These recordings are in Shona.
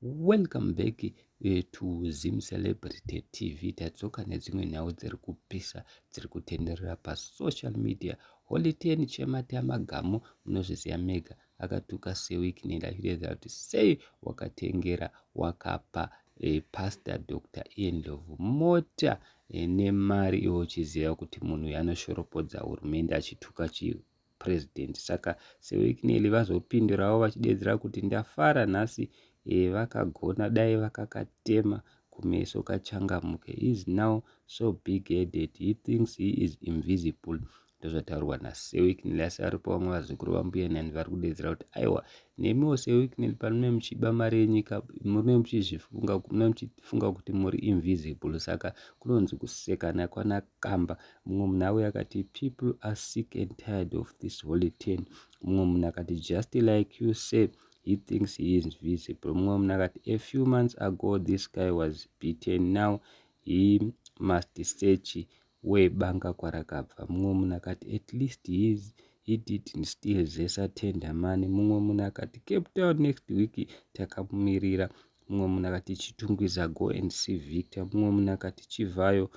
Welcome back eh, to Zim Celebrity TV. Tadzoka nedzimwe nhau dziri kupisa dziri kutenderera pasocial media. Holy Ten Chematama Gamu munozviziva mega akatuka sewiki nendafireza kuti sei wakatengera wakapa eh, Pastor Dr. Ian Ndlovu mota eh, nemari iwo uchiziva kuti munhu yanoshoropodza hurumende achituka chii president saka sewicknely vazopindurawo vachideedzera kuti ndafara nhasi e, vakagona dai vakakatema kumeso kachangamuke is now so big headed he thinks he is invisible ndozvataurwa nasewicknely asi aripo vamwe vazukuru vambuya nani vari kudeedzera kuti aiwa nemiwo sewicknely panome muchiba mari yenyika mune muchizvifunga mune muchifunga kuti muri invisible saka kunonzi kusekana kwana kamba mumwe munhu auye akati people are sick and tired of this holy ten mumwe munhu akati just like you say he thinks he is visible mumwe munhu akati a few months ago this guy was beaten now he must search where banga kwarakabva mumwe munhu akati at least he is he didn't still zesa tender mani mumwe munhu akati cape town next week takamumirira mumwe munhu akati chitungwiza go and see victor mumwe munhu akati chivhayo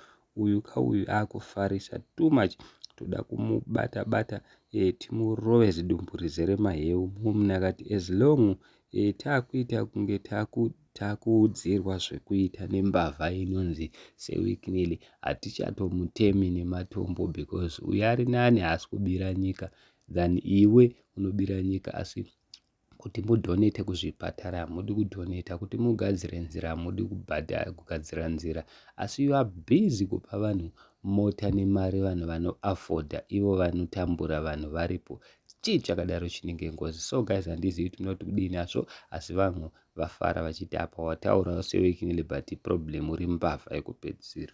uyu ka uyu akufarisa too much toda kumubata bata e, timurove zidumbu rizere maheu mumna akati as long e, takuita kunge taku takuudzirwa zvekuita nembavha inonzi sewiknely hatichatomutemi nematombo because uyo ari nani haasi kubira nyika than iwe unobira nyika asi kuti mudhonete kuzvipatara hamudi kudhoneta kuti mugadzire nzira hamudi kubhadhara kugadzira nzira asi you are busy kupa vanhu mota nemari vanhu vanoafodha ivo vanotambura vanhu varipo chii chakadaro chinenge ngozi so guys handizivi kuti munoti kudini asvo asi vanhu vafara vachiti apa wataura sewaking liberty problem uri mbavha yekupedzisira